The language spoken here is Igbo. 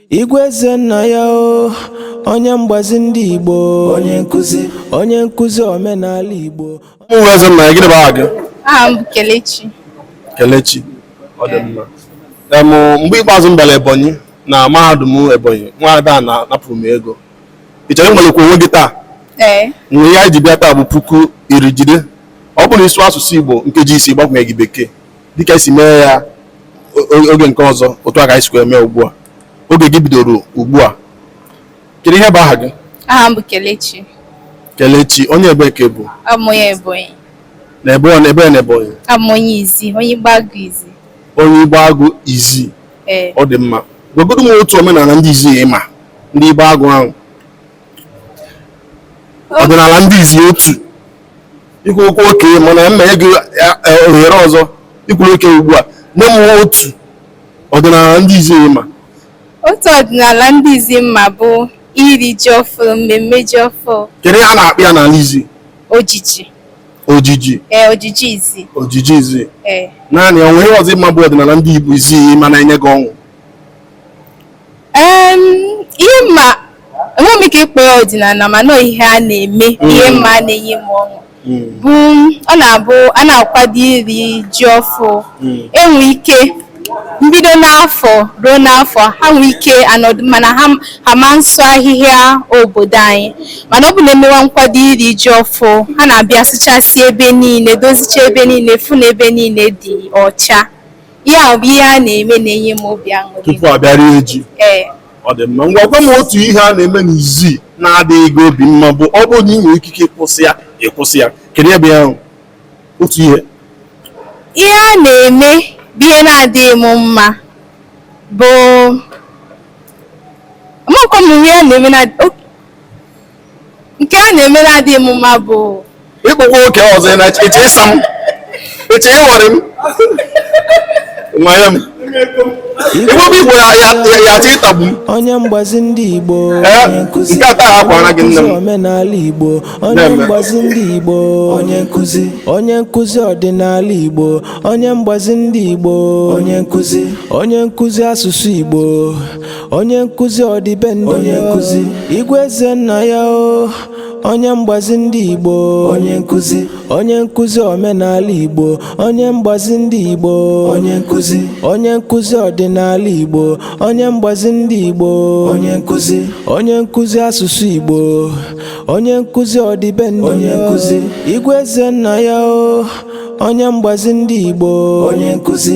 Igwe eze nna ya o onye mgbazi ndị Igbo onye nkụzi onye nkụzi omenala Igbo abụ m Igwe eze nna ya gịnị bụ aha gị aha m bụ Kelechi Kelechi ọ dị mma em mgbe ikpeazụ m bịara Ebonyi na mahadum Ebonyi nwa ada na napụrụ m ego ị chọrọ ịnwalekwa onwe gị taa ee ihe anyị ji bịa taa bụ puku iri jide ọ bụrụ ị sụọ asụsụ Igbo nkeji isii gbakwanyeghị bekee dịka esi mee ya oge nke ọzọ otu a ka anyị sikwa eme ugbu a oge gị bidoro ugbu a kedu ihe bụ aha gị aha m bụ Kelechi Kelechi onye ebee ka ị bụ abụ m onye Ebonyi na ebe ọ na ebe na Ebonyi abụ m onye Izi onye Igbeagụ Izi onye Igbeagụ Izi ọ dị mma gwagodo m otu omenala ndị Izi ị ma ndị Igbeagụ ahụ ọdịnala ndị izi otu i kwuru okay mana m na-enye gị ohere ọzọ i kwuru okay ugbu a nye m otu ọdịnala ndị izi ị ma otu ọdịnala ndị izi m ma bụ iri ji ọfụrụ mmemme ji ọfụrụ kedu ihe a na-akpọ ya n'ala izi ojiji ojiji ee ojiji izi ojiji izi ee naanị o nwere ihe ọzọ ị ma bụ ọdịnala ndị Igbo izi ị ma na-enye gị ọṅụ ihe m ma enweghị m ike ịkpọ ya ọdịnala mana ihe a na-eme mm. ihe m ma na-enye m ọṅụ mm. bụ ọ na-abụ a na-akwado iri ji ọfụ mm. e nwee ike mbido n'afọ ruo n'afọ ha nwee ike nọdụ mana ha ma nsụ ahịhịa obodo anyị mana ọ bụ na e mewa nkwado iri ji ọfụ ha na-abịa sụchasị ebe niile dozicha ebe niile fụ na ebe niile dị ọcha ihe ahụ bụ ihe a na-eme na-enye m obi aṅụrị tupu a bịa rie ji ee ọ dị mma ngwa gwa m otu ihe a na-eme n'izi na-adịghị gị obi mma bụ ọ bụrụ na ị nwere ikike ịkwụsị ya ị kwụsị ya kedu ihe bụ ihe ahụ otu ihe ihe a na-eme bụ ihe na-adịghị m mma bụ amakwa m ihe a na-eme na o- Nke a na-eme na-adịghị m mma bụ i kwukwa okay ọzọ ị na-eche eche ịsa m eche ịghọrị m nwere m igbo bụ igbo ya ya ya atụ ịtagbu m onye mgbazi ndị igbo Eh, onye nkụzi nke a taa a kwara gị nne m. onye nkụzi omenala igbo onye Na-eme. mgbazi ndị igbo onye nkụzi onye nkụzi ọdịnala igbo onye mgbazi ndị igbo onye nkụzi onye nkụzi asụsụ igbo onye nkụzi ọdịbendị onye nkụzi igwe eze nna ya o onye mgbazi ndị igbo onye nkụzi onye nkụzi omenala igbo onye mgbazi ndị igbo onye nkụzi onye nkụzi ọdịnala igbo onye mgbazi ndị igbo onye nkụzi onye nkụzi asụsụ igbo onye nkụzi ọdịbendị onye nkụzi igwe eze nna ya o onye mgbazi ndị igbo onye nkụzi